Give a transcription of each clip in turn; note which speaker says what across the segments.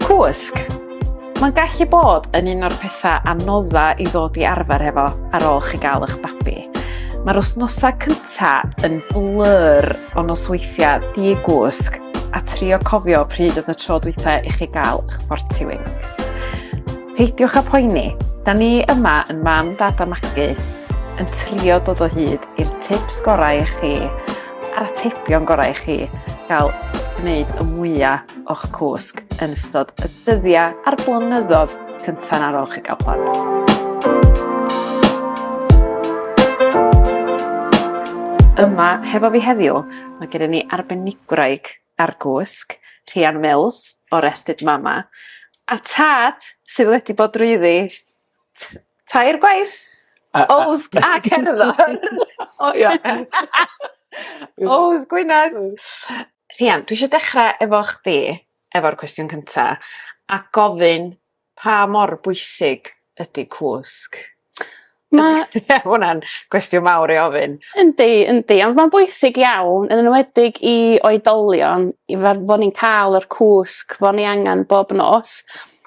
Speaker 1: Cwsg. Mae'n gallu bod yn un o'r pethau anodda i ddod i arfer hefo ar ôl chi gael eich babi. Mae'r wythnosau cyntaf yn blur o nosweithiau di-gwsg a trio cofio pryd oedd y tro dwytha i chi gael eich forti wings. Peidiwch â poeni, da ni yma yn mam, dad a magu yn trio dod o hyd i'r tips gorau i chi a'r atebion gorau i chi gael gwneud y mwyaf o'ch cwsg yn ystod y dyddiau a'r blynyddoedd cyntaf ar ôl chi gael plant. Yma, hefo fi heddiw, mae gen i ni arbenigwraig ar gwsg, Rhian Mills, o'r Ested Mama, a tad sydd wedi bod drwyddi t- tair gwaith. A a... Owls a cerddor. O ia. Owls Gwynedd. Rhian dwi isio dechra efo chdi efo'r cwestiwn cynta a gofyn pa mor bwysig ydi cwsg? Ma'... Ma' hwnna'n gwestiwn mawr i ofyn. Yndi yndi ond
Speaker 2: ma'n bwysig iawn yn enwedig i oedolion i fel bo' ni'n ca'l yr cwsg bo' ni angan bob nos.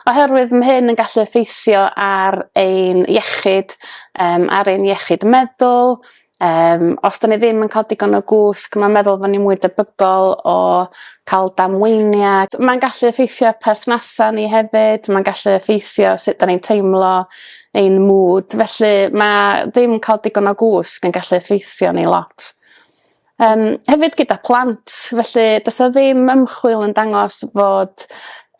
Speaker 2: oherwydd mae hyn yn gallu effeithio ar ein iechyd, um, ar ein iechyd meddwl, um, os da ni ddim yn cael digon o gwsg, mae'n meddwl fod ni'n mwy debygol o cael damweiniad. Mae'n gallu effeithio perthnasau ni hefyd, mae'n gallu effeithio sut da ni'n teimlo, ein mwd, felly mae ddim cael digon o gwsg yn gallu effeithio ni lot. Yym hefyd gyda plant felly does 'na ddim ymchwil yn dangos fod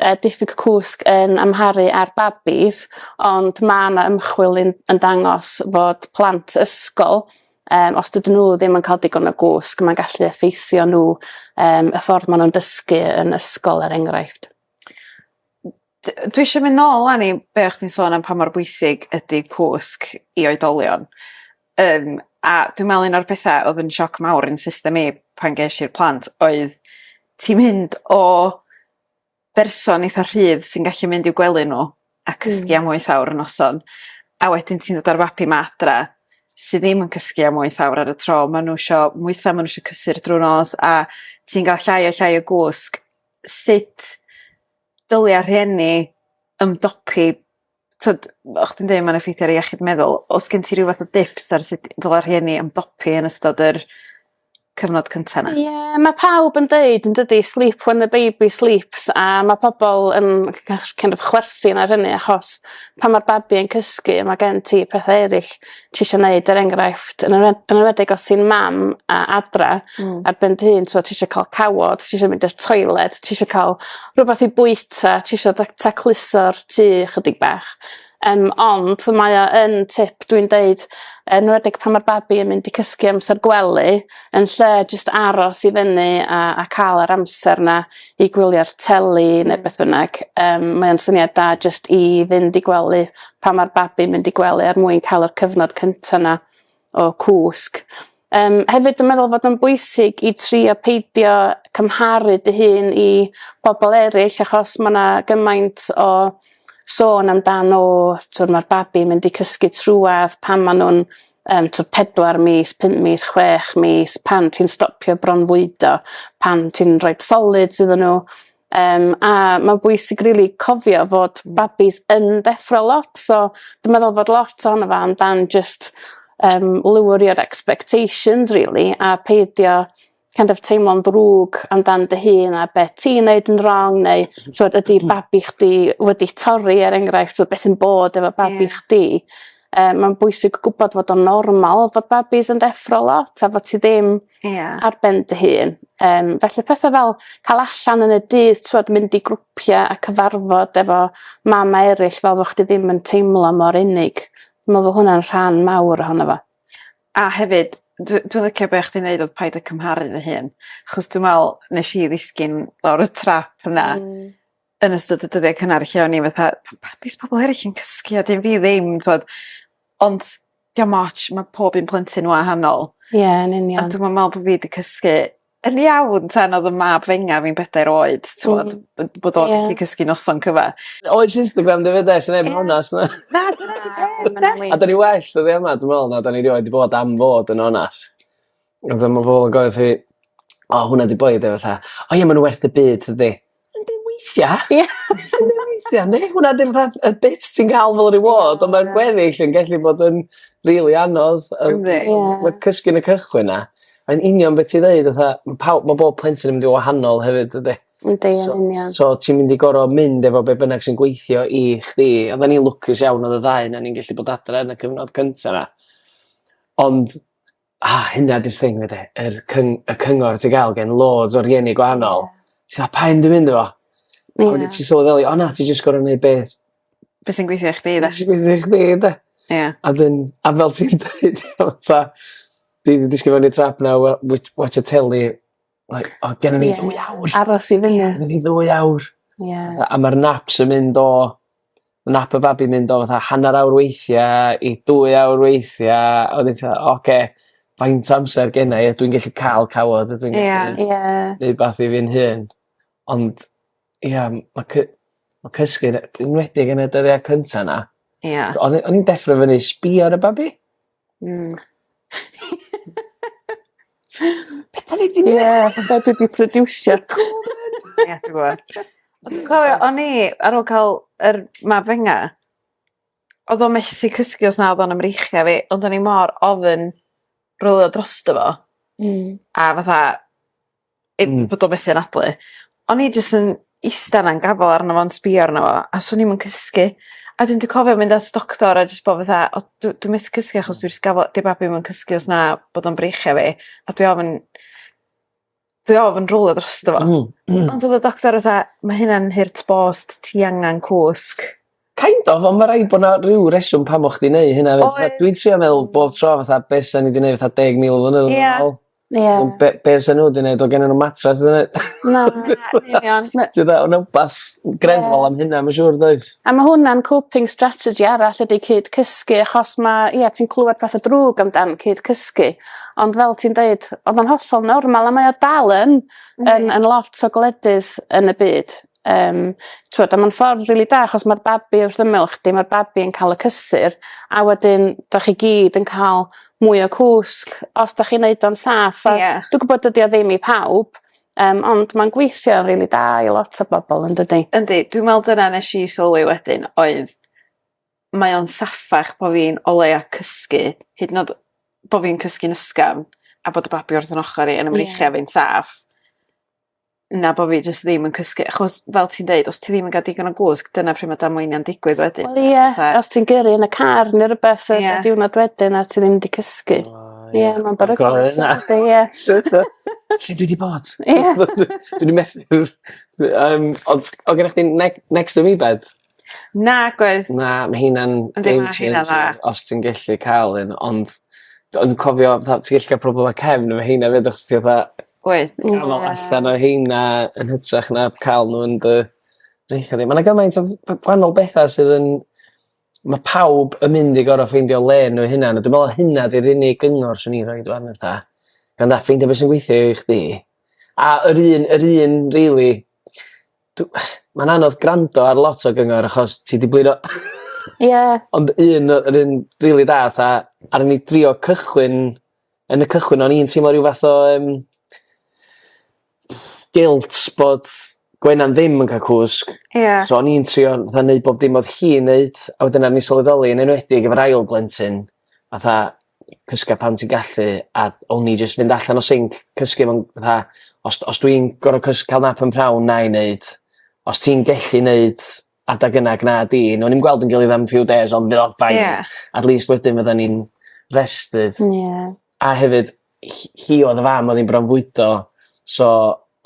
Speaker 2: yy diffyg cwsg yn amharu ar babis ond ma' 'na ymchwil un- yn dangos fod plant ysgol yym os dydyn n'w ddim yn ca'l digon o gwsg ma'n gallu effeithio n'w yym y ffordd ma' nw'n dysgu yn ysgol er enghraifft.
Speaker 1: D- dwi isio myn' nôl 'wan i be' o' chdi'n sôn am pa mor bwysig ydi cwsg i oedolion. Yym a dwi me'wl un o'r petha odd yn sioc mawr i'n system i pan gesh i'r plant oedd ti'n mynd o berson eitha rhydd sy'n gallu mynd i'w gwely n'w a cysgu am wyth awr y noson a wedyn ti'n dod a'r fabi 'ma adra sy ddim yn cysgu am wyth awr ar y tro ma' n'w isio mwytha ma' n'w isio cysur drw'r nos a ti'n ga'l llai a llai o gwsg sut dylia rhieni ymdopi t'od fel chdi'n deud ma'n effeithio ar iechyd meddwl o's gen ti ryw fath o dips ar sut dyle rhieni ymdopi yn ystod yr cyfnod cynta 'na? Ie ma' pawb yn
Speaker 2: deud yndydi sleep when the baby sleeps a ma' pobol yn kind of chwerthin ar hynny achos pan ma'r babi yn cysgu ma' gen ti pethe eryll ti isio neud er enghraifft yn enw- yn enwedig os ti'n mam a adra... Hmm. ...ar ben dy hun t'wod ti isio ca'l cawod ti isio mynd i'r toilet ti isio ca'l rwbath i bwyta ti isio da- tacluso'r tŷ chydig bach yym ond mae o yn tip dwi'n deud yn enwedig pan ma'r babi yn mynd i cysgu amsar gwely yn lle jyst aros i fyny a a ca'l yr amser 'na i gwylio'r teli ne' beth bynnag yym mae o'n syniad da jyst i fynd i gwely pan mae'r babi mynd i gwely er mwyn cael yr cyfnod cyntaf yna o cwsg. Um, hefyd yn meddwl fod yn bwysig i trio peidio cymharu dy hun i bobl eraill achos mae yna gymaint o sôn amdano, twr mae'r babi mynd i cysgu trwad pan maen nhw'n um, twr pedwar mis, pum mis, chwech mis, pan ti'n stopio bronfwydo, pan ti'n rhoi solid iddyn nhw, Um, a mae'n bwysig rili really cofio fod hmm. babis yn deffro lot, so dwi'n meddwl fod lot o'n efo amdan just um, lywrio'r expectations really, a peidio kind of teimlo'n ddrwg amdan dy hun a beth ti'n neud yn wrong neu so, hmm. ydy hmm. babi chdi wedi torri er enghraifft so, beth sy'n bod efo babi yeah. chdi. Um, mae'n bwysig gwybod fod o'n normal fod babis yn deffro lot a fod ti ddim Ia. Ar ben dy hun. Yym felly pethe fel ca'l allan yn y dydd t'wod mynd i grwpia' a cyfarfod efo mame eryll fel bo' chdi ddim yn teimlo mor unig. Dwi me'wl bo' hwnna'n rhan mawr ohono fo. A hefyd
Speaker 1: dw- dwi licio be' o' chdi'n neud odd paid â cymharu dy hun. Achos dwi me'wl nesh i ddisgyn lawr y trap yna. Hmm. yn ystod y dyddie cynnar lle o'n i fatha p- pa- be' s'bobol eryll yn cysgu a 'dyn fi ddim t'wod ond 'di o'm otsh ma' pob un plentyn wahanol. Ie yn union. A
Speaker 2: dwi'm yn me'wl bo' fi 'di
Speaker 1: cysgu yn iawn tan odd 'yn mab fenga fi'n bedair oed t'mod b- bod o gallu cysgu noson cyfa. Oes jyst yn gwend
Speaker 3: efyd 'de os neb yn onast na? Na dyna 'di peth 'de? A 'dan ni well dyddia 'ma dwi me'wl na 'dan ni rioed 'di bod am fod yn onast. A fel ma' bobol yn gofio fi o hwnna 'di boi ynde fatha o ie ma' n'w werth dim byd tydi? Yndi weithia'. Ia. Yndi weithia' yndi? Hwnna 'di fatha y bit ti'n ga'l fel reward ond ma'r gweddill yn gallu bod yn rili anodd. Yndi. Ie. Ma' cysgu yn y cychwyn 'na yn union be' ti ddeud fatha ma' pawb ma' bob plentyn yn mynd yn wahanol hefyd dydi? Yndi yn union.
Speaker 2: So so ti'n mynd i goro
Speaker 3: mynd efo be' bynnag sy'n gweithio i chdi a 'dan ni'n lwcus iawn odd y ddau 'non ni'n gellu bod adre yn y cyfnod cynta 'na ond A hynna 'di'r thing 'ma 'de yr cyng- y cyngor ti ga'l gen loads o rieni gwahanol. Ti fel paun dim myn' 'da fo. Ie. A wedyn ti sylweddoli o na ti jyst gor'o' neud beth Be' sy'n gweithio
Speaker 1: i chdi 'de? Be' sy gweithio i chdi 'de? Ia.
Speaker 3: A 'dyn a fel ti'n deud fatha dwi 'di disgyn mewn i'r trap 'na o we- witsh watsio teli like o gennon ni ddwy awr. Aros i fyny. Gennon ni
Speaker 2: ddwy awr.
Speaker 3: Ie. A a ma'r naps yn mynd o ma' nap y babi mynd o fatha hanner awr weithia i dwy awr weithia a wedyn ti me'wl oce faint o amser gennai a dwi'n gellu ca'l cawod a dwi'n gellu... Ie ie. ...neud wbath i fi'n hun. Ond ia m- ma' cy- ma' cysgu'n e- enwedig yn y dyddia' cynta 'na... Ia. ...o'n i o'n i'n deffro fyny sbio ar y babi. Hmm. Be' 'dan ni 'di neu'? Ie fatha dwi 'di prodiwsio.
Speaker 2: Ia
Speaker 1: dwi gwbo. Ond dwi cofio o'n i ar ôl ca'l yr mab fenga odd o methu cysgu os na odd o'n 'ym mreichia' fi ond o'n i mor ofyn rowlio drosto fo. Hmm. A fatha ei bod o methu anadlu. O'n i jyst yn ista 'na'n gafal arno fo'n sbïo arno fo a swn i'm yn cysgu. A 'dyn dwi cofio mynd at doctor a jys bo' fatha o dw- dwi methu cysgu achos dwi jys gafal... 'Di babi 'im yn cysgu os na bod o'n breichio fi a dwi ofn dwi ofn rowlio drosto fo. Hmm hmm. Ond odd y doctor fatha ma' hynna'n hurt bost ti angan cwsg. Kind of on'
Speaker 3: ma' raid bo' 'na ryw reswm pam o' chdi neu' hynna efyd... Oedd. ...fatha dwi'n trio meddwl bob tro fatha be' sa ni 'di neu' fatha deg mil o flynyddodd yn ôl. Ia. Ie. Ond be' be' fysa n'w 'di neud o' gennon n'w matres o'dd e... Na yn union
Speaker 2: ma'... Ti weld ma' 'na
Speaker 3: wbath grefyddol am hynna ma' siŵr does? A ma' hwnna'n coping
Speaker 2: strategy arall ydi cyd cysgu achos ma' ia ti'n clŵad pethe drwg amdan cyd cysgu ond fel ti'n deud o'dd o'n hollol normal a mae o dal yn yn yn lot o gwledydd yn y byd Yym t'wod a ma'n ffordd rili da achos ma'r babi wrth ymyl chdi ma'r babi yn ca'l y cysur a wedyn 'dach chi gyd yn ca'l mwy o cwsg os 'dach chi'n neud o'n saff a... Ie. ...dwi gwbod dydi o ddim i pawb yym ond ma'n gweithio rili da i lot o bobol yndydi? Yndi dwi me'wl dyna
Speaker 1: nesh i sylwi wedyn oedd mae o'n saffach bo' fi'n o leia cysgu hyd yn o'd bo' fi'n cysgu'n ysgafn a bod y babi wrth 'yn ochor i yn 'y mreichia' fi'n saff. na bo' fi jyst ddim yn cysgu achos fel ti'n deud os ti ddim yn ga'l digon o gwsg dyna pry' ma' damweinia'n digwydd wedyn. Wel ie. Fatha... Os ti'n gyrru
Speaker 2: yn y car ne' rwbeth y... Ie. ...y diwrnod wedyn a ti ddim 'di cysgu. O ie. Ie ma'n beryglus. Ydi ie. Shwt
Speaker 3: yy lle dwi 'di bod? Ie. Dwn i methu yym odd odd gennoch chdi neg- next to me bed? Nag
Speaker 1: oedd. Na ma' hynna'n
Speaker 3: game changer os ti'n gellu ca'l un ond d- o'n cofio fatha ti gallu ca'l problem efo cefn efo heina 'fyd achos ti fatha Wyt. Ww. Dal o allan o rheina yn hytrach na ca'l n'w yn dy ringo di. Ma' 'na gymaint o f- yy gwanol betha sydd yn ma' pawb yn mynd i gor'o' ffeindio le n'w 'u hunan a dwi me'wl hynna 'di'r unig gyngor swn i'n rhoid ŵan fatha gan dda ffeindio be' sy'n gweithio i chdi a yr un yr un rili dw- ma'n anodd grando ar lot o gyngor achos ti 'di blino... Ie. ...ond un yy yr un rili da fatha aru ni drio cychwyn yn y cychwyn o'n i'n teimlo rhyw fath o um, guilt bod Gwenan ddim yn cael cwsg. Yeah. So o'n i'n trio fatha neud bob dim oedd hi'n neud a wedyn ar ni sylweddoli yn enwedig efo'r ail blentyn fatha cysga pan ti'n gallu a o'n i jyst fynd allan o sinc cysgu fo'n fatha os, os dwi'n gorau cysg cael nap yn prawn na i neud os ti'n gallu neud adag yna ag na di newn ni'm gweld 'yn gilydd am few days ond fydd o'n fine. Ie. At least wedyn fyddan ni'n rested. Ie. A hefyd hi hi odd y fam odd 'i'n bronfwydo so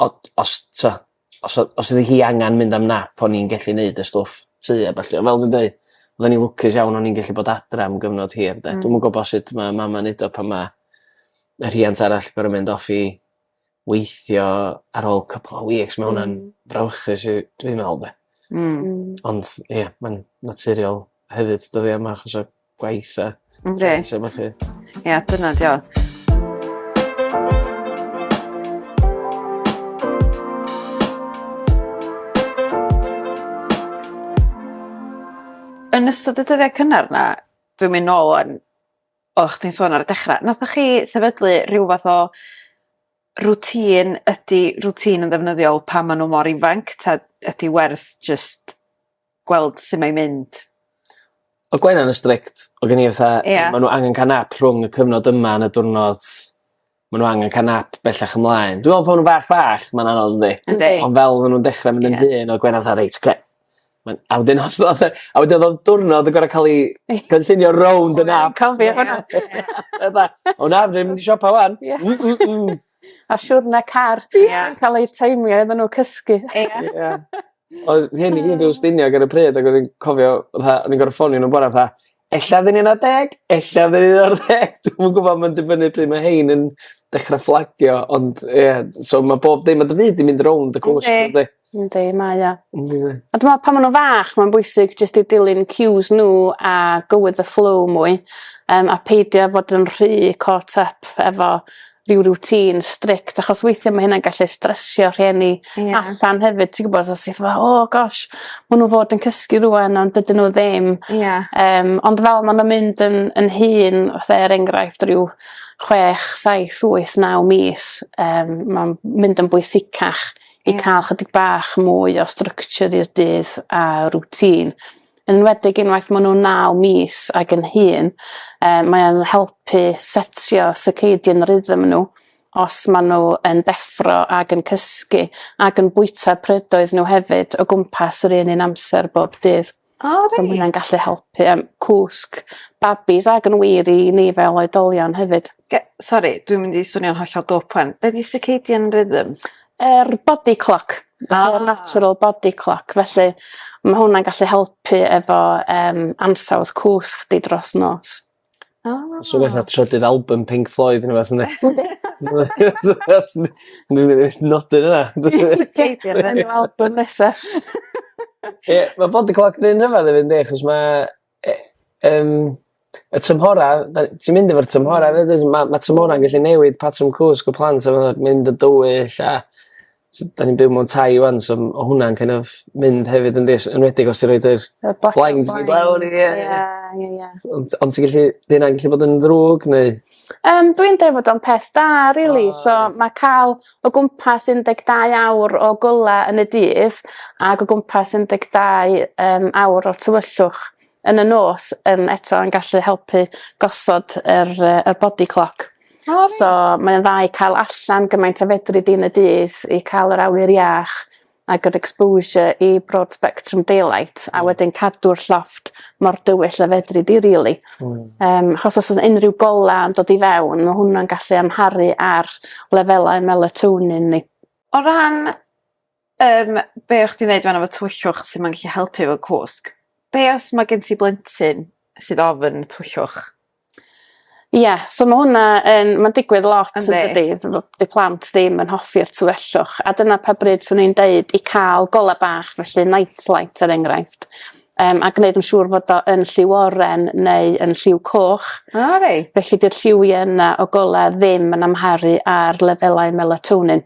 Speaker 3: o- os t'o' os o- os odd 'i hi angan mynd am nap o'n i'n gellu neud y stwff tŷ a ballu on' fel dwi'n deu oddan ni lwcus iawn o'n i'n gellu bod adra am gyfnod hir 'de. Hmm. Dwi'm yn gwbo sut ma' mam yn neud o pan ma' y rhiant arall gorod mynd off i weithio ar ôl cwpwl o weeks ma' wnna'n... Hmm. ...frawychus i dwi me'wl 'de. Hmm. Hmm. Ond ie ma'n naturiol hefyd dyddie 'ma achos o gwaith a... Yndi. ...a petha felly. Ia dyna
Speaker 1: 'di o. Yn ystod y dyddie cynnar 'na dwi'n myn' nôl 'wan o' chdi'n sôn ar y dechra nathoch chi sefydlu rhyw fath o routine ydi routine yn ddefnyddiol pan ma' n'w mor ifanc 'ta ydi werth jyst gweld su' mae'n mynd? O'dd
Speaker 3: Gwenan yn strict odd gen i fatha... Ia. ...ma' n'w angen ca'l nap rhwng y cyfnod yma yn y diwrnod ma' n'w angen car nap bellach ymlaen. Dwi me'wl pan ma' nw'n fach fach ma'n anodd yndi? Yndi. Ond fel ma' nw'n
Speaker 1: dechre
Speaker 3: mynd yn hŷn o' Gwener fatha reit 'ce. Ma'n a wedyn os ddath e a wedyn odd diwrnod yn gorod ca'l 'i cynllunio rownd y nap. Dwi'n cofio hwnna. Oedd
Speaker 2: e?
Speaker 3: O na fedrai mynd i siopa 'wan. Ia. Mm mm mm.
Speaker 2: A siwrne car. Ia. Yn ca'l eu taimio iddyn n'w cysgu. Ia. Ia.
Speaker 3: Oedd rhieni fi yn Ffestiniog ar y pryd ag o'n i'n cofio fatha o'n i'n gor'o' ffonio n'w bora fatha Ella oedd e'n un ar ddeg, ella oedd e'n un ar ddeg, dwi'm yn gwybod, mae'n dibynnu pryd mae hein yn dechrau fflagio, ond ie, yeah, so mae bob dim, mae dy fyd yn mynd rownd y cwrs, ynddi? Ynddi, mae o.
Speaker 2: Ynddi. A dwi'n meddwl pan maen nhw'n fach, mae'n bwysig jyst i dilyn cues nhw a go with the flow mwy, um, a peidio fod yn rhy caught up efo rhyw routine strict achos weithia' ma' hynna'n gallu stressio rhieni... Ie. ...allan hefyd ti gwbod os ti fatha o gosh ma' n'w fod yn cysgu rŵan ond dydyn n'w ddim. Ia. Yym ond fel ma' nw'n mynd yn yn hŷn fatha er enghraifft ryw chwech saith wyth naw mis yym ma'n mynd yn bwysicach i ca'l chydig bach mwy o structure i'r dydd a routine. yn enwedig unwaith maen nhw'n naw mis ac yn hun, uh, mae'n helpu setio circadian rhythm nhw os maen nhw yn deffro ac yn cysgu ac yn bwyta prydoedd nhw hefyd o gwmpas yr un un amser bob dydd. O, oh, so mae hynna'n gallu helpu um, cwsg babis ac yn wir i ni fel oedolion hefyd. Ge- sorry, dwi'n mynd
Speaker 1: i swnio'n hollol dwp wan. Be di circadian rhythm? Yr body
Speaker 2: clock. Ah. Yr natural body clock felly ma' hwnna'n gallu helpu efo yym ansawdd cws chdi dros nos. Ah. So
Speaker 3: fatha trydydd album Pink Floyd ne' wbath yndi? Yndi. Dwi ddim is nodi wnna. Peidio â neud
Speaker 2: albym nesa.
Speaker 3: Ie ma' body clock 'n un rhyfedd efyd yndi achos ma' e- yym y tymhora 'da ni... Ti'n mynd efo'r tymhora 'fyd dwyt ma' ma' tymhora'n gallu newid patrwm cwsg y plant a ma' n'w mynd yn dywyll a so 'da ni'n byw mewn tai ŵan so m- ma' hwnna'n kin' of mynd hefyd yndi s- enwedig os ti roid yr... Y blasu blinds... ...blinds mynd lawr ie ie. Ie ie ie. So ond ond ti gallu 'di wnna gallu bod yn ddrwg neu? Yym dwi'n deud
Speaker 2: fod o'n peth da rili so ma' ca'l o gwmpas 12 awr o golau yn y dydd ac o gwmpas 12 um, awr o'r tywyllwch yn y nos um, eto yn gallu helpu gosod yr, uh, yr body clock. Oh, so mae'n dda i cael allan gymaint o fedri di yn y dydd i cael yr awyr iach a good exposure i broad spectrum daylight a hmm. wedyn cadw'r llofft mor dywyll a fedri di rili. Hmm. Yym achos os o's unrhyw gola yn dod i fewn ma' hwnna'n gallu amharu ar lefelau melatonin ni. O ran
Speaker 1: yym be' o'ch ti'n neud fan 'na efo tywyllwch sy'n ma'n gallu helpu efo cwsg be' os ma' gen ti blentyn sydd ofn twyllwch?
Speaker 2: Ie so ma' hwnna yn ma'n digwydd lot yndydi? T'mo' 'di plant ddim yn hoffi'r tu fellwch a dyna pa bryd swn i'n deud i ca'l gola' bach felly night light er enghraifft yym a gneud yn siŵr fod o yn lliw oren neu yn lliw coch. O reit. Felly 'di'r lliwie yna o gola' ddim yn amharu ar lefelau melatonin.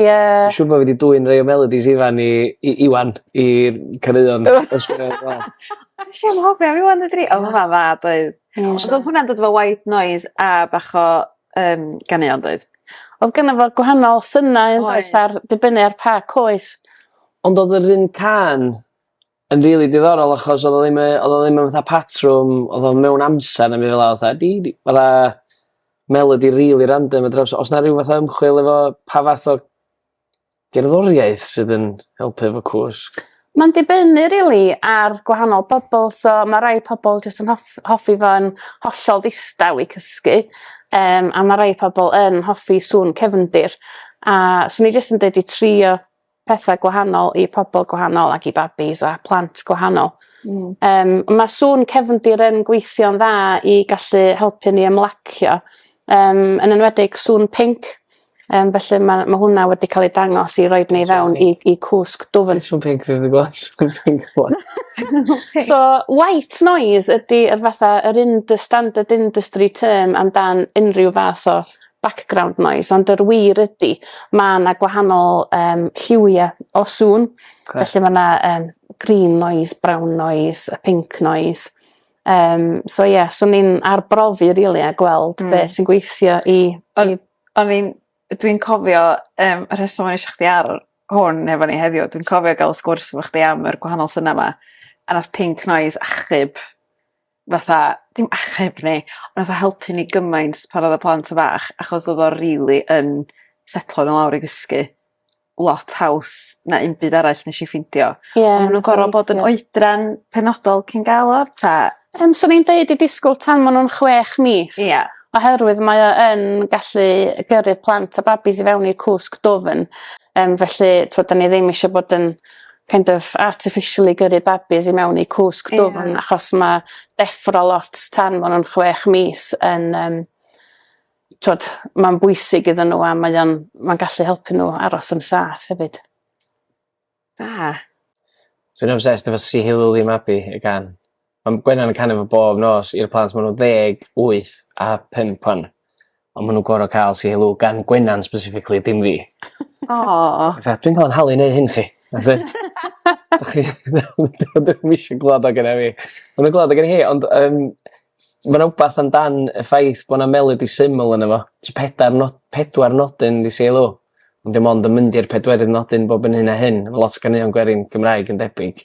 Speaker 3: Ie. Dwi siŵr bo' fi 'di dwyn rei o melodies Ifan i i Iwan i caneuon Nesh
Speaker 1: i anghofio am Iwan dwedwn i. O ma' wnna'n dda doedd? Ie. Os odd hwnna'n dod efo white noise a bach o yym ganeuon doedd? Odd gynno fo
Speaker 2: gwahanol synau yndoes? Oedd. Ar dibynnu ar pa coes. Ond odd yr
Speaker 3: un cân yn rili diddorol achos odd o ddim yy odd o ddim yn fatha patrwm odd o mewn amser ne' be' fela fatha di di fatha melodi rili random a dryms o's 'na ryw fath o ymchwil efo pa fath o gerddoriaeth sydd yn helpu efo cwsg? Ma'n dibynnu
Speaker 2: rili ar gwahanol bobol so ma' rai pobol jyst yn hoff- hoffi fo yn hollol ddistaw i cysgu yym a ma' rei pobol yn hoffi sŵn cefndir a swn i jyst yn deud i trio petha gwahanol i pobl gwahanol ac i babis a plant gwahanol. Mm. Um, mae sŵn cefndir yn gweithio'n dda i gallu helpu ni ymlacio, um, yn enwedig sŵn pink. Um, felly mae ma hwnna wedi cael ei dangos i roed
Speaker 3: ni
Speaker 2: fewn i,
Speaker 3: i
Speaker 2: cwsg
Speaker 3: dwfn.
Speaker 2: Sŵn pink
Speaker 3: sydd
Speaker 2: wedi gweld sŵn pink So, white noise ydy yr fatha yr industry, standard industry term amdan unrhyw fath o background noise ond yr wir ydi ma' 'na gwahanol yym lliwie o sŵn. 'Ce. Felly ma' 'na yym green noise brown noise a pink noise yym so ie so ni'n arbrofi rili a gweld... Hmm. ...be' sy'n gweithio i i... O'n i'n dwi'n
Speaker 1: cofio yym y rheswm o'n i isio chdi ar hwn efo ni heddiw dwi'n cofio ga'l sgwrs efo chdi am yr gwahanol syniad 'ma a nath pink noise achub fatha dim achub ni on' nath o helpu ni gymaint pan odd y plant yn fach achos odd o rili yn setlo n'w lawr i gysgu lot haws na 'im byd arall nesh i ffindio. Ie. O'n nw'n gor'o' bod yn oedran penodol cyn ga'l o 'ta? Yym swn i'n deud
Speaker 2: i disgwl tan ma' nw'n chwech mis. Ia. Oherwydd mae o yn gallu gyrru plant a babis i fewn i'r cwsg dwfn yym felly t'od 'dan ni ddim isio bod yn kind of artificially gyrru babis i mewn i cwsg dwfn yeah. achos mae deffro lot tan maen nhw'n chwech mis yn um, twod, mae'n bwysig iddyn nhw a mae'n mae gallu helpu nhw aros yn saff hefyd.
Speaker 1: Da.
Speaker 3: Dwi'n obsessed efo Sihiluli Mabi y gan. Ma'n Gwenan yn canu fo bob nos i'r plant ma' n'w ddeg wyth a pump ŵan a ma' n'w gor'o' ca'l say hello gan Gwenan specifically dim fi. Aw. Fatha dwi'n ca'l 'yn nhalu i neu' hyn chi. That's it. Dach chi ddim isio glŵad o gynna fi. Ma' nw'n glŵad o gynna hi ond yym s- ma' 'na wbath am dan y ffaith bo' 'na melody syml yno fo. So pedair no- pedwar nodyn 'di say hello ond dim ond yn mynd i'r pedwerydd nodyn bob yn hyn a hyn ma' lot o ganeuon gwerin Cymraeg yn debyg.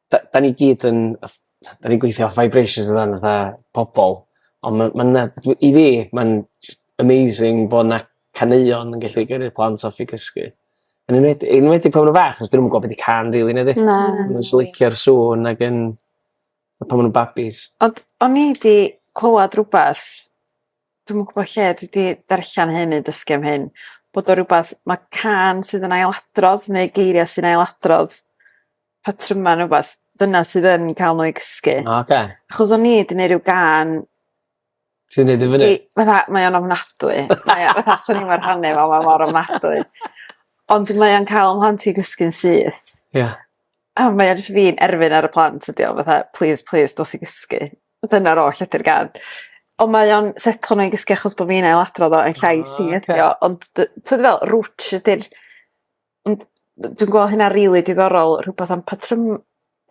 Speaker 3: 'da- 'dan ni gyd yn ff- t'o' 'dan ni'n gweithio off vibrations dydan fatha pobol on' ma' ma' 'na dwi i fi ma'n jyst amazing bo' 'na caneuon yn gallu gyrru plant off i gysgu. Yn enwed- yn enwedig pan ma' nw'n fach 'chos 'dyn nw'm yn gw'o' be' 'di cân rili na 'dyn ni? Na. Ma' n'w jys licio'r sŵn ag yn a pan ma' nw'n babis. Ond o'n i
Speaker 1: 'di clywad rwbath dwi'm yn gwbo lle dwi 'di darllan hyn neu dysgu am hyn bod o rwbath ma' cân sydd yn ailadrodd neu geiria' sy'n ailadrodd patryma ne' wbath dyna sydd yn ca'l n'w i gysgu. O oce. Achos o'n i 'di neu' ryw gân Ti'n
Speaker 3: neud e fynny? I fatha mae o'n ofnadwy
Speaker 1: mae o fatha swn i'm yn rhannu fo ma' mor ofnadwy. Ond mae o'n ca'l 'yn mhlant i i gysgu'n syth. Ia. A mae o jyst fi'n erfyn ar y plant ydi o fatha plîs plîs dos i gysgu. Dyna'r oll ydi'r gân. Ond mae o'n setlo n'w i gysgu achos bo' fi'n ailadrodd o yn llais hi ydi o ond dy- t'od be' dwi fe'wl rwtsh ydi'r Ond d- dwi'n gwel' hynna rili diddorol rhwbath am patrym-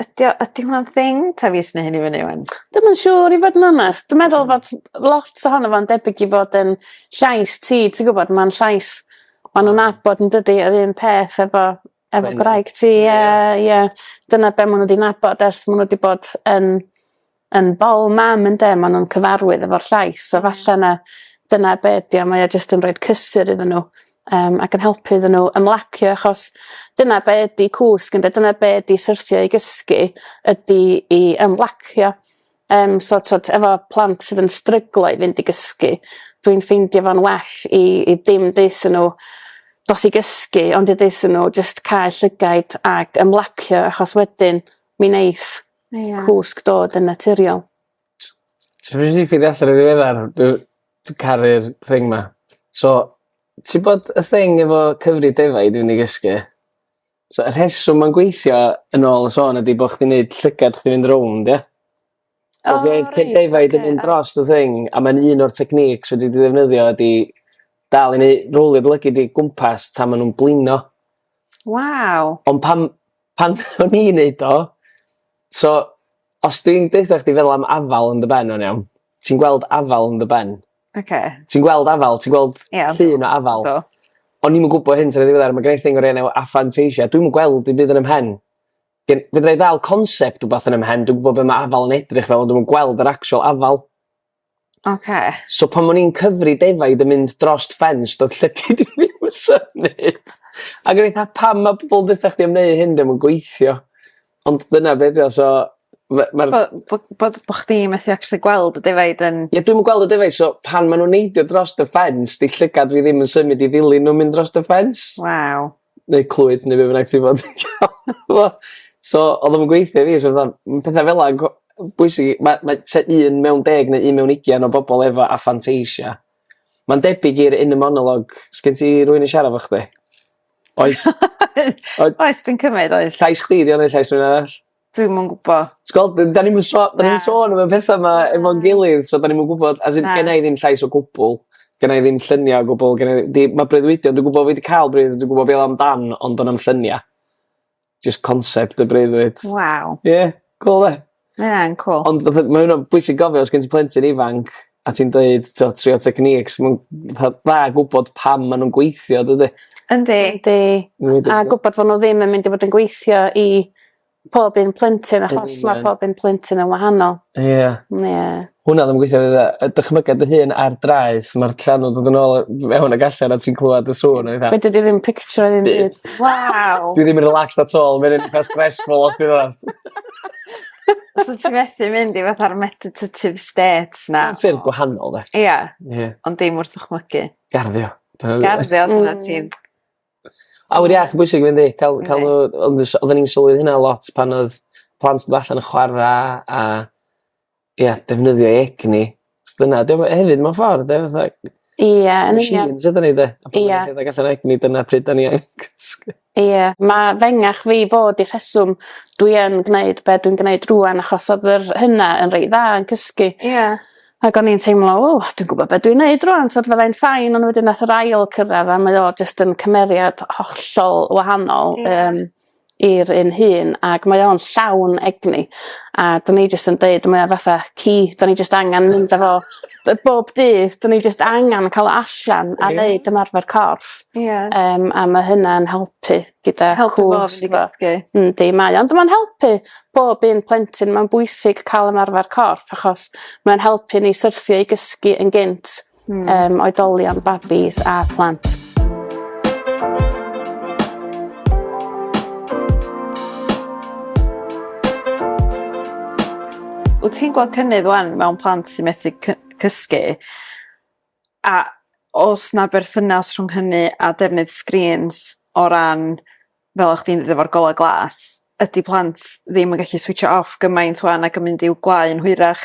Speaker 1: ydi o ydi hwnna'n thing? 'Tha fi sy'n neu' hynny fyny 'wan. Dwi'm yn siŵr i fod yn
Speaker 2: onest dwi meddwl fod lot ohono fo'n debyg i fod yn llais ti ti gwbod ma'n llais ma' nw'n nabod yndydi yr un peth efo efo gwraig ti a ie dyna be' ma' n'w 'di nabod ers ma' n'w 'di bod yn yn bol mam ynde ma' nw'n cyfarwydd efo'r llais so falle 'na dyna be' 'di o mae o jyst yn roid cysur iddyn n'w yym ac yn helpu iddyn n'w ymlacio achos dyna be' ydi cwsg ynde dyna be' 'di syrthio i gysgu ydi i ymlacio yym so t'wod efo plant sydd yn stryglo i fynd i gysgu dwi'n ffeindio fo'n well i i dim deutho n'w dos i gysgu ond i deutho n'w jyst cau llygaid ag ymlacio achos wedyn mi neith Ia. Cwsg dod yn naturiol. Ti
Speaker 3: wedi ffeindio allan yn ddiweddar dwi dwi caru'r thing 'ma. So ti bod y thing efo cyfrif defaid dwi myn' i gysgu so y rheswm ma'n gweithio yn ôl y sôn ydi bo' chdi neud llygad chdi fynd rownd ia? O reit oce. So fe cyn defaid yn mynd drost y thing a ma'n un o'r techniques fedri di ddefnyddio ydi dal i neu' rowlio dy lygid di gwmpas tan ma' nw'n blino. Waw.
Speaker 1: Ond pan
Speaker 3: Pan o'n i'n neud o so os dwi'n deutha chdi feddwl am afal yn dy ben o'n iawn ti'n gweld afal yn dy ben. Oce. Ti'n gweld afal ti'n gweld... Ia. ...llun o afal. Do. O'n i'm yn gwbo hyn tan yn ddiweddar ma' gennai thing o'r enw aphantasia dwi'm yn gweld dim byd yn 'ym mhen. Gen- fedrai ddal concept wbath yn 'ym mhen dw'm gwbo be' ma' afal yn edrych fel ond dwi'm yn gweld yr actual afal. Oce. So pan o'n i'n cyfri defaid yn mynd drost ffens do'dd llygid i ddim yn symud ag o'n i fatha pam ma' pobol deutha chdi am neu' hyn 'di o'm yn gweithio ond dyna be' 'di o so ma' ma'r... Bo' bo'
Speaker 1: bo' d- bo' chdi methu actually gweld y defaid yn... Ie dwi'm yn gweld y defaid so
Speaker 3: pan ma' nw'n neidio drost y ffens 'di llygad fi ddim yn symud i ddilyn n'w mynd drost y ffens. Waw.
Speaker 1: neu Clwyd
Speaker 3: neu be bynnag ti fod so odd o'm yn gweithio i fi so fatha ma' petha' fela'n go- bwysig i ma' ma' tua un mewn deg neu un mewn ugian o bobol efo aphantasia ma'n debyg i'r inner monologue sgin ti rywun i siarad efo chdi? Oes?
Speaker 1: Oes dwi'n cymyd oes. Llais chdi 'di o neu llais rywun
Speaker 3: arall? Dwi'm yn gwbo.
Speaker 1: T'gwel' d- 'dan ni'm yn so-
Speaker 3: 'dan ni'm yn sôn am y petha 'ma efo'n gilydd so 'dan ni'm yn gwbod as in... Na. ...genna i ddim llais o gwbwl genna i ddim llynia o gwbwl genna i di- ma' breuddwydio dwi gwbo fi 'di ca'l breudd dwi gwbo be' o'dd o amdan ond do'n na'm llynia. Jyst concept o breuddwyd. Waw. Ie.
Speaker 1: Cŵl 'de?
Speaker 3: Ma' ynna'n cŵl. Ond
Speaker 1: fatha ma' ynna'n
Speaker 3: bwysig gofio os gen ti plentyn ifanc a ti'n deud t'o' trio techniques ma'n fatha dda gwbod pam ma' nw'n gweithio dydi? Yndi. Yndi. Ma'n
Speaker 2: debyg. A gwbod fo' n'w ddim yn mynd i fod yn gweithio i pob un plentyn achos ma' pob un plentyn yn wahanol. Ia. N- ie.
Speaker 3: Hwnna ddim yn gwithio efyd yy yy dychmyga dy hun ar draeth ma'r llanw'n dod yn ôl yy mewn ag allan a ti'n clŵad y sŵn a petha. Fedri di ddim pictio
Speaker 2: ddim byd. Waw! Dwi ddim
Speaker 1: yn relaxed at
Speaker 3: all ma' ynny'n itha stressful os dwi'n onast.
Speaker 1: So ti methu mynd i fatha'r meditative states na? Mewn ffyrdd gwahanol 'de.
Speaker 3: Ia. Ie. Ond dim
Speaker 1: wrth dychmygu. Garddio.
Speaker 3: Dyna... Garddio dyna
Speaker 1: hmm. ti'n...
Speaker 3: Awyr iach yn bwysig fynd i. Ca'l ca'l n'w ond s- odden ni'n sylwi hynna lot pan odd plant yn allan yn chwara a ia defnyddio egni 'chos dyna 'di o we- hefyd mewn ffor 'de fatha... Ia yn union.
Speaker 2: ...machines ydan ni 'de? Ia.
Speaker 3: A pan ma' nw'n rhedeg allan o egni dyna pryd 'dan ni angen cysgu. Ia ma'
Speaker 2: fengach fi fod y rheswm dwi yn gneud be' dwi'n gneud rŵan achos odd yr hyna yn reit dda yn cysgu. Ia. Ag
Speaker 1: o'n i'n teimlo
Speaker 2: o dwi'n gwbo be' dwi'n neud rŵan t'od fyddai'n fine on' wedyn nath yr ail cyrradd a mae o jyst yn cymeriad hollol wahanol. Ia. Yym. i'r un hun ac mae o'n llawn egni a 'dyn ni jyst yn deud mae o fatha ci 'dan ni jyst angan mynd â fo yy bob dydd 'dyn ni jyst angan ca'l o allan a neud ymarfer corff. Ie. Yym a ma' hynna'n helpu gyda cwsg a ballu. Yndi mae o ond ma'n helpu pob un plentyn ma'n bwysig ca'l ymarfer corff achos ma'n helpu ni syrthio i gysgu yn gynt. mm. um, oedolion, babis a plant.
Speaker 1: Wyt ti'n gweld cynnydd wan mewn plant sy'n methu cysgu? A os na berthynas rhwng hynny a defnydd sgrîns o ran fel o'ch chdi'n ddeud golau glas, ydy plant ddim yn gallu switch off gymaint wan ac yn mynd i'w gwlau'n hwyrach?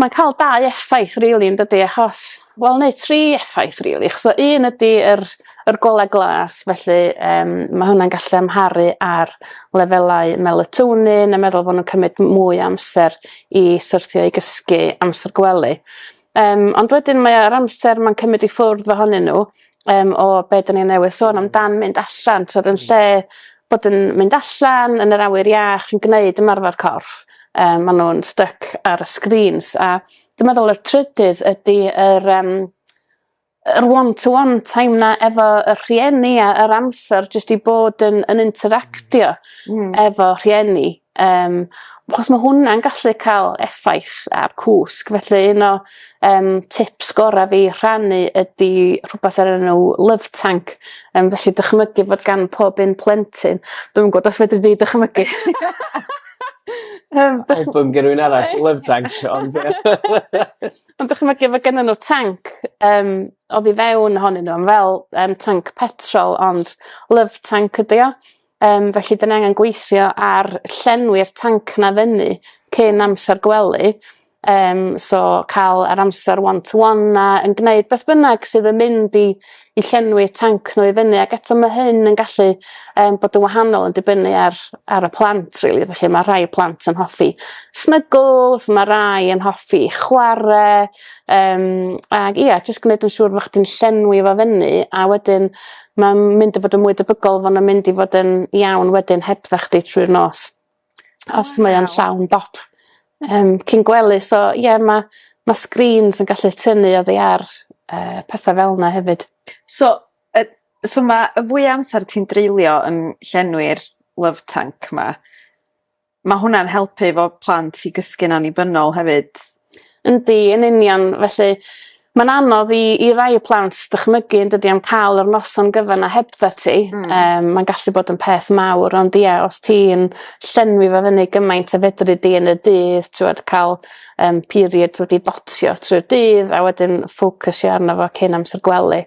Speaker 2: Mae'n cael dau effaith rili yn dydi achos wel neu tri effaith rili achos o un ydi yr yr gola glas felly yym ma' hwnna'n gallu amharu ar lefelau melatonin a meddwl fo' nw'n cymryd mwy o amser i syrthio i gysgu amser gwely. Yym ond wedyn mae o yr amser ma'n cymryd i ffwrdd ohonyn n'w yym o be' 'dyn ni newydd sôn amdan mynd allan t'od yn lle bod yn mynd allan yn yr awyr iach yn gneud ymarfer corff yym ma' nw'n styc ar y sgrîns a dwi meddwl y trydydd ydi yr yym yr one to one time 'na efo y rhieni a yr amser jyst i bod yn yn interactio... Hmm. ...efo rhieni Um, achos mae hwnna'n gallu cael effaith ar cwsg, felly un o um, tips gorau fi rhannu ydy rhywbeth ar enw Love Tank. Um, felly dychmygu fod gan pob un plentyn, dwi'n gwybod os fedri di dychmygu. um,
Speaker 3: dych... Album gen rhywun arall, Love Tank. Ond,
Speaker 2: ond dychmygu fod gen nhw tank um, o ddi fewn honyn nhw, fel um, tank petrol, ond Love Tank ydy o. Yym felly 'dyn ni angen gweithio ar llenwi'r tanc 'na fyny cyn amser gwely yym so ca'l yr amser one to one 'na yn gneud beth bynnag sydd yn mynd i i llenwi tanc n'w i fyny ag eto ma' hyn yn gallu yym bod yn wahanol yn dibynnu ar ar y plant rili felly ma' rhai plant yn hoffi snygls ma' rai yn hoffi chware yym ag ia jyst gneud yn siŵr bo' chdi'n llenwi fo fyny a wedyn Mae'n mynd i fod yn mwy debygol fod yn mynd i fod yn iawn wedyn hebdda chdi trwy'r nos. Os oh, mae o'n llawn dop. Um, cyn gwely, so ie, yeah, mae ma screens yn gallu tynnu o ddiar uh, pethau
Speaker 1: fel yna
Speaker 2: hefyd. So, uh, so
Speaker 1: mae y fwy amser ti'n dreulio yn llenwi'r love tank ma, Ma' hwnna'n helpu efo plant i gysgu'n annibynnol hefyd. Yndi yn
Speaker 2: union felly ma'n anodd i i rai y plant dychmygu yndydi am ca'l yr noson gyfan 'na hebddat ti. Hmm. Yym ma'n gallu bod yn peth mawr ond ia os ti'n llenwi fo fyny gymaint a fedri di yn y dydd t'wod ca'l yym periods wedi dotio trwy'r dydd a wedyn ffocysio arno fo cyn amser gwely.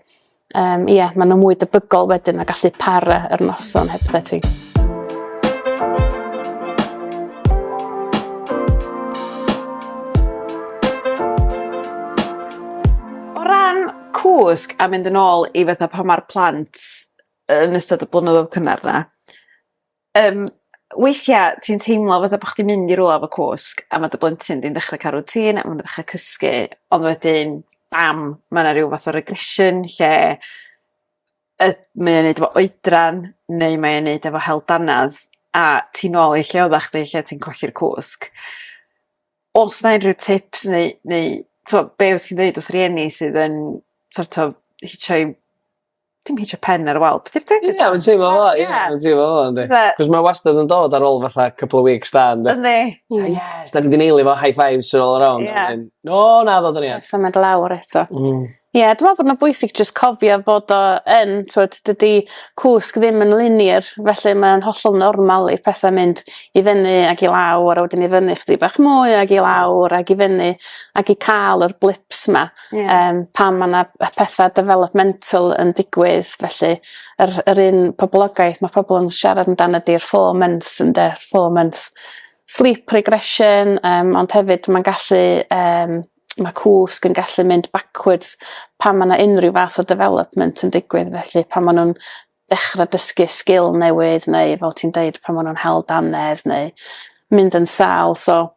Speaker 2: Um, ie, yeah, maen nhw mwy debygol wedyn a gallu para yr noson heb ti.
Speaker 1: O ran cwsg a mynd yn ôl i fatha pan ma'r plant yn ystod y blynyddoedd cynnar 'na Yym weithia' ti'n teimlo fatha bo' chdi mynd i rwla efo cwsg a ma' dy blentyn di'n dechre ca'l routine a ma' n'w dechre cysgu ond wedyn bam ma' 'na ryw fath o regression lle yy mae o'n neud efo oedran neu mae o'n neud efo hel dannedd a ti nôl i lle odda chdi lle ti'n colli'r cwsg. O's 'na unryw tips neu neu t'wo' be' wyt ti'n ddeud wrth rieni sydd yn so't of hitio 'u dim hitio pen ar y wal beth yw deu- Ie ma'n teimlo
Speaker 3: fel 'a ie ma'n teimlo fel 'a yndi? Fe- 'C'os mae wastad yn dod ar ôl fatha couple o weeks da ynde? Yndi. Fatha
Speaker 1: yes 'dan ni
Speaker 3: 'di neili fo high fives all around a wedyn o naddo 'dan ni heb. Symud lawr eto.
Speaker 2: Hmm. Ie dwi me'wl bod ma'n bwysig jyst cofio fod o yn t'wod dydi cwsg ddim yn linear felly mae o'n hollol normal i petha mynd i fyny ag i lawr a wedyn i fyny chydig bach mwy ag i lawr ag i fyny ag i ca'l yr blips 'ma. Yeah. Um, pan mae yna pethau developmental yn digwydd, felly yr, yr un poblogaeth mae pobl yn siarad amdano ydy'r four month, ynddo, four month sleep regression, um, ond hefyd mae'n gallu, um, mae cwsg yn gallu mynd backwards pan mae yna unrhyw fath o development yn digwydd, felly pan maen nhw'n dechrau dysgu sgil newydd neu fel ti'n deud pan maen nhw'n hel danedd neu mynd yn sal. So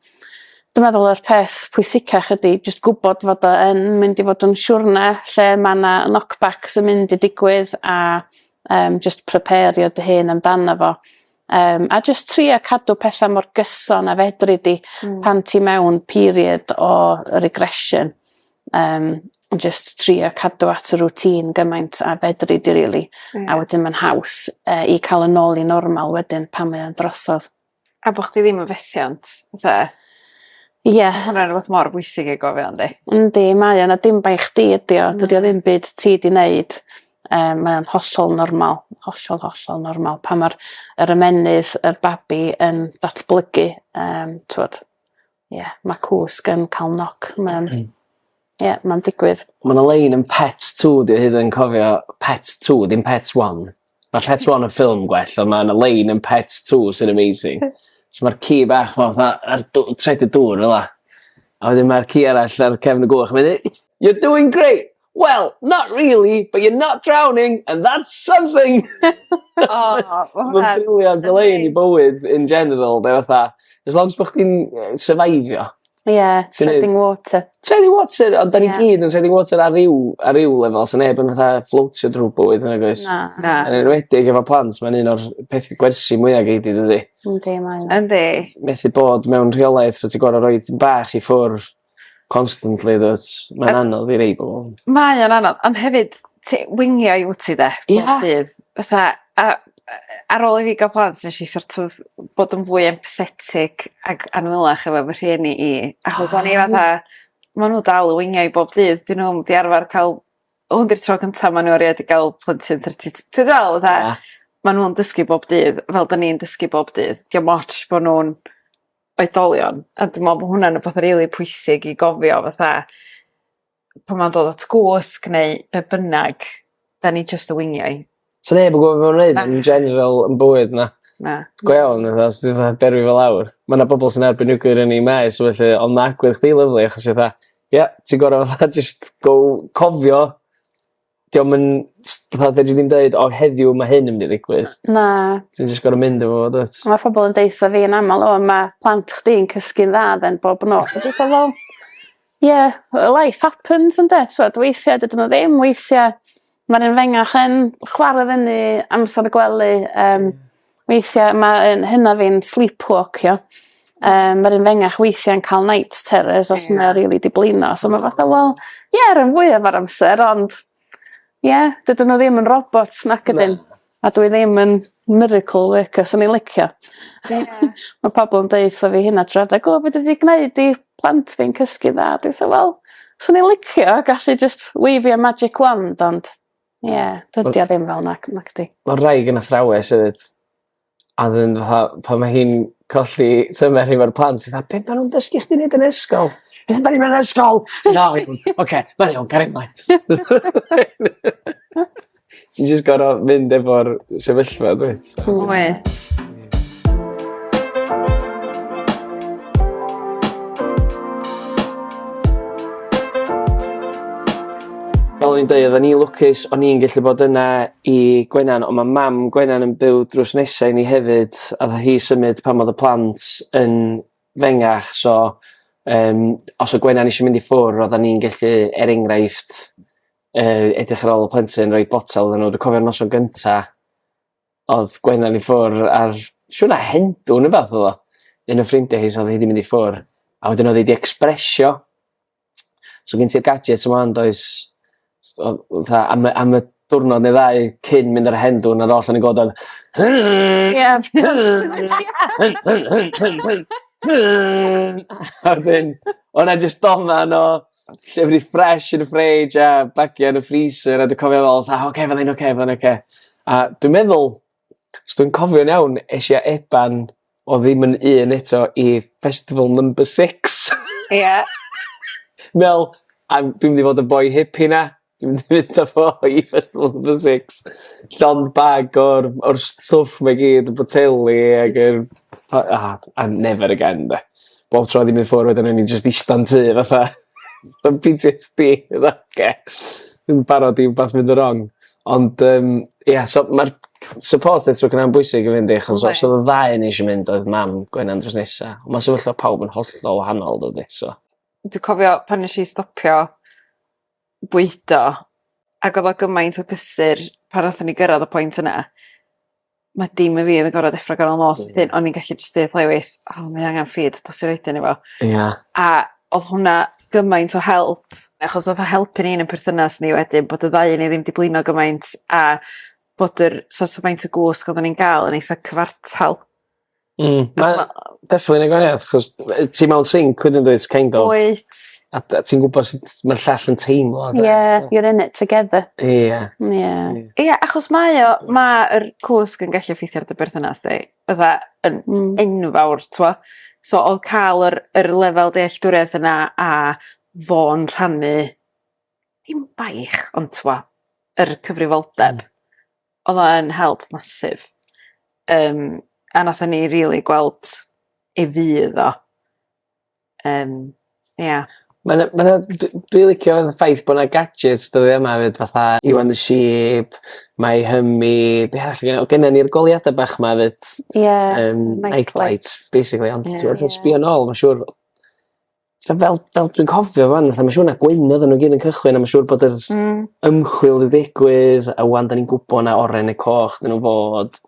Speaker 2: dwi'n meddwl yr peth pwysicach ydy jyst gwybod fod o yn mynd i fod yn siwrne lle mae yna knockbacks yn mynd i digwydd a um, just prepario dy hun amdano fo. Um, a jyst tri a cadw pethau mor gyson a fedri di mm. pan ti mewn period o regression. um, just trio cadw at y routine gymaint a fedri di really. Mm. A wedyn mae'n haws uh, i cael yn ôl i normal wedyn pan mae'n drosodd. A bod chdi ddim
Speaker 1: yn fethiant, fatha? Ie. Yeah. Hwna'n rhywbeth mor bwysig ei gofio, yndi? Yndi, mae yna
Speaker 2: dim bai chdi ydi o. Dydy o ddim byd ti di wneud. Um, mae o'n hollol normal, hollol, hollol normal. Pa mae'r er ymenydd, yr er babi yn datblygu, um, twod, ie ma' cwsg yn ca'l knock ma'n ie ma'n digwydd. Ma' 'na lein yn pet
Speaker 3: two dwi hyd yn cofio pet two dim pet one. Ma' pet one yn ffilm gwell on' ma' 'na lein yn pet two sy'n amazing. So ma'r ci bach 'ma fatha ar dw- traed y dŵr fel 'a a wedyn ma'r ci arall ar cefn y gwch a mae 'i deu' you're doing great! Wel, not really, but you're not drowning and that's something! O ma' hwnna... Ma'n brilliant o lein i bywyd in general 'de fatha as long as bo' chdi'n yy syfeifio. Ie treading
Speaker 2: water. Treading water ond
Speaker 3: 'dan ni gyd yn treading water ar ryw ar ryw lefel sa neb yn fatha fflotio drw bywyd nag oes? Na. Na. Yn enwedig
Speaker 2: efo
Speaker 3: plant ma'n un o'r peth gwersi mwya gei di dydi? Yndi
Speaker 2: mae o. Yndi. Methu
Speaker 1: bod
Speaker 3: mewn rheolaeth so ti gor'o' roid bach i ffwr'. Constantly does mae'n anodd i neud o. Mae o'n anodd ond
Speaker 1: hefyd ti wingiai wt ti 'de? Ia. Bob dydd fatha a yy ar ôl i fi ga'l plant nesh i so't of bod yn fwy empathetic ag annwyl efo fy rhieni i achos o'n i fatha ma' n'w dal y wingiai bob dydd 'dyn nw'm 'di arfar ca'l hwn 'di'r tro cynta ma' n'w erioed 'di ga'l plentyn tro ty- ti weld fel fatha... Ia. ...ma' nw'n dysgu bob dydd fel 'dan ni'n dysgu bob dydd 'di o'm otsh bo' nw'n oedolion a dwi me'wl bo' hwnna'n wbath rili pwysig i gofio fatha pan ma'n dod at gwsg neu be' bynnag 'dan ni jyst y weiniau. Sa neb yn gwbo be'
Speaker 3: ma' nw'n neud yn general yn bywyd na. Na. Go iawn
Speaker 1: fatha os
Speaker 3: ti fatha derwi fo lawr ma' 'na bobol sy'n erbyn nuclear ynni maes felly on' ma' agwedd chdi lyfli achos ti fatha ie ti gor'o' fatha jyst go cofio 'dio'm yn s- fatha fedri di'm deud o heddiw ma' hyn yn myn' i ddigwydd. Na. Ti jyst
Speaker 2: gor'o' mynd
Speaker 3: efo fo dwyt? Ma' pobol yn deutho fi
Speaker 2: yn amal o ma' plant chdi'n cysgu'n dda 'den bob nos a dwetha wel ie yy life happens ynde t'mod weithia' dydyn n'w ddim weithia' ma'r un fengach yn chware fyny amser y gwely yym Weithia' ma' 'yn hyna fi'n sleepwalkio yym ma'r un fengach weithia'n ca'l night terrors os ma' rili 'di blino so ma' fatha wel ie ran fwyaf o'r amser ond ie dydyn n'w ddim yn robots nac ydyn? A dwi ddim yn miracle worker swn i'n licio. Ie. Ma' pobol yn deutho fi hynna trw'r adag o fedri di gneud i plant fi'n cysgu dda a dwi fatha wel swn i'n licio gallu jyst weifio magic wand ond Ie dydi o ddim fel 'na c- nacdi? Ma' wraig yn athrawes
Speaker 3: hefyd a 'dyn fatha pan ma' hi'n colli tymer hi efo'r plant fatha be' ma' nw'n dysgu chdi neud yn ysgol? Be' amdani mewn ysgol? Na fi 'im yn oce ma'n iawn cario mlaen. Ti jyst gor'o' mynd efo'r sefyllfa dwyt? Wyt. o'n i'n dweud, o'n i'n lwcus, o'n i'n gallu bod yna i Gwenan, ond mae mam Gwenan yn byw drws nesau ni hefyd, a dda hi symud pan oedd y plant yn fengach, so um, os o Gwenan eisiau mynd i ffwr, oedd o'n i'n gallu, er enghraifft, uh, edrych ar ôl y plentyn, rhoi botel yn nhw. Dwi'n cofio'r noson gyntaf, odd Gwennan i ffwr' a'r siŵr 'na Hendw ne' wbath odd o. Un o ffrindie hi so odd hi 'di mynd i ffwr'. A wedyn odd 'i 'di ecsbresio so gen ti'r gadget 'ma ŵan does s- o- o- fatha am y am y diwrnod ne' ddau cyn mynd ar y Hendw 'na oll o'n i'n gweld oedd a wedyn o' 'na jyst doman o lle o'n i fresh yn y fridge a bagiau yn y freezer a dwi'n cofio fel fatha oce okay, fydda'n oce okay, fydda'n oce. Okay. A dwi'n meddwl, os dwi'n cofio'n iawn, eisiau i Eban o ddim yn un eto i festival number six. Ie. Yeah. Mel, dwi'n mynd i fod y boi hippie na. Dwi'n mynd i fynd â fo i Festival of the Six llond bag o'r o'r st- stwff 'ma i gyd y boteli ag yr pa- a a never again 'de. Bob tro o'n i'n mynd ffwr' wedyn o'n i jyst ista'n tŷ fatha yn Pee Tee Ess Bee fatha oce dwi'n barod i wbath fynd yn rong. Ond yym ia so ma'r support network yna'n bwysig i fynd i achos os odd y ddau o ni isio mynd oedd mam Gwenan drws nesa. On' ma' sefyllfa pawb yn hollol wahanol dydi so. Dwi cofio
Speaker 1: pan nesh i stopio bwydo ag odd o gymaint o gysur pan nathon ni gyrradd y pwynt yna ma' dim i fi o'dd yn gorod deffro goro nos wedyn o'n i'n gallu jyst deud 'tha Lewys o mae angan feed dos i roid e i fo. Ia. A odd hwnna gymaint o help achos odd o helpu ni yn y perthynas ni wedyn bod y ddau o ni ddim 'di blino gymaint a bod yr so't o' faint o gwsg oddan ni'n ga'l yn eitha cyfartal. Hmm
Speaker 3: ma' definly neu' gwahaniath 'chos t- yy ti mewn sync wedyn dwyt kind of. Wyt. A dy- a
Speaker 1: ti'n gwbod
Speaker 3: sut ma'r llall yn teimlo on'd wyt? Ie you're in it
Speaker 2: together. Ia. Ia. Ia achos
Speaker 1: mae o ma' yr cwsg yn gallu effeithio ar dy berthynas di fatha yn... Hmm. ...enfawr t'mo' so odd ca'l yr yr lefel dealltwriaeth yna a fo'n rhannu dim baich ond t'mo' yr cyfrifoldeb odd o yn help massive yym a nathon ni rili gweld ei fudd o yym ia.
Speaker 3: Ma' 'na ma' 'na d- dwi licio y ffaith bo' 'na gadgets dyddia 'ma 'fyd fatha you and the sheep my Hummy be' arall o' gynno o' gynno ni'r goliada bach 'ma 'fyd. Ie. Yym night lights basically ond t'mod os sbïo nôl ma' siŵr T'od fel fel dwi'n cofio 'wan fatha ma' siŵr 'na gweinydd o' n'w gyd yn cychwyn a ma' siŵr bod yr... Hmm. ...ymchwil 'di digwydd a 'wan 'dan ni'n gwbo 'na oren ne' coch 'dyn n'w fod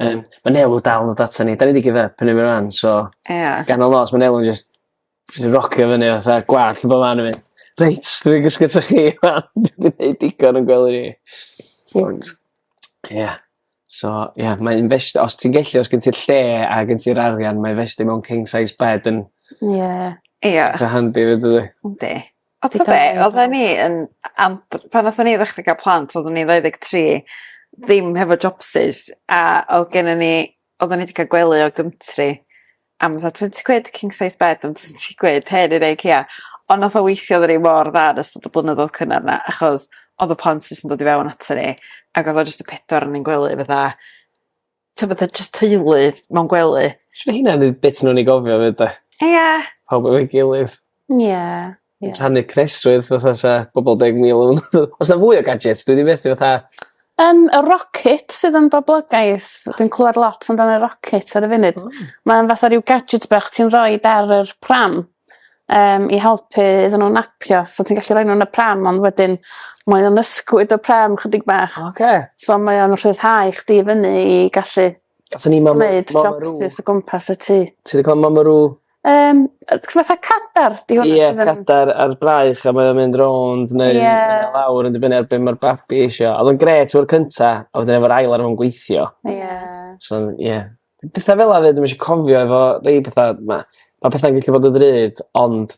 Speaker 3: yym ma' Nel yn dal yn dod atan ni 'dan ni 'di give up arno fe rŵan so... Ia. ...gan y lons ma' Nel yn jyst js yn rocio fyny fatha gwall yn bo' man efyd. Reit dwi myn' i gysgu 'tha chi 'wan dwi 'di neud digon o'n gwely fi. Ond ia. So ie mae invest- os ti'n gellu os gen ti'r lle a gen ti'r arian mae investio mewn king size bed yn... Ie. ...ie. ...itha handi 'fyd dydi? Yndi. A t'o'
Speaker 1: be' oddan ni yn a- am b- pan nathon ni ddechra ga'l plant oddwn ni ddau ddeg tri ddim hefo jopsys a odd gennon ni oddan ni 'di ca'l gwely o Gumtree am fatha twenty quid king size bed am twenty quid her yn IKEA ond nath o weithio iddo ni mor dda yn ystod y blynyddodd cynnar 'na achos odd y plant jyst yn dod i fewn ato ni ag odd o jyst y pedwar o ni'n gwely fatha t'o' fatha jyst teulu mewn gwely. Siŵr 'di hynna 'di bit
Speaker 3: newn ni gofio 'fyd 'de? Ia. Pawb efo'i gilydd. Ia. Ie. Yn rhannu preswyl fatha sa pobol deg mil o nw. O's 'na fwy o gadjets dwi 'di methu fatha Yym y
Speaker 2: rocket sydd yn boblogaidd dwi'n clwad lot amdan y rocket ar y funud. O. Mae'n fatha ryw gadget bach ti'n roid ar yr pram yym i helpu iddyn n'w napio so ti'n gallu roi n'w yn y pram ond wedyn mae o'n ysgwyd y pram chydig bach. Oce. So mae o'n rhyddhau chdi i fyny i gallu...
Speaker 3: Gathon
Speaker 2: ni mam a mam a rŵ. ...neud jopsys o gwmpas y
Speaker 3: tŷ.
Speaker 2: Ti 'di ca'l mam a
Speaker 3: rŵ?
Speaker 2: Yym yy t- fatha cadar 'di hwnna... Ie cadar ar
Speaker 3: braich a mae o'n mynd rownd neu... Ie. ...neu lawr yn dibynnu ar be' ma'r babi isio a odd o'n grêt efo'r cynta a wedyn efo'r ail ar ôl yn gweithio. Ie. So ie. Petha fel 'a 'fyd dwi'm isio cofio efo rei petha ma' ma' petha'n gellu bod yn ddrud ond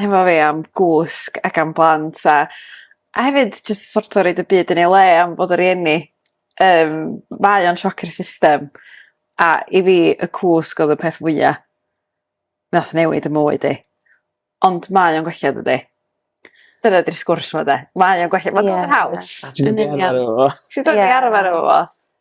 Speaker 1: hefo fi am gwsg ac am blant a a hefyd jyst so't o' roid y byd yn ei le am fod y' rieni yym mae o'n sioc i'r system a i fi y cwsg odd y peth fwya nath newid 'ym mywyd i ond mae o'n gwella dydi? Dyna 'di'r sgwrs 'ma 'de mae o'n gwella ma'n... Ie. ...ma'n haws. Ti'n dod i arfer efo
Speaker 3: fo. Ti'n dod i arfer efo
Speaker 1: fo.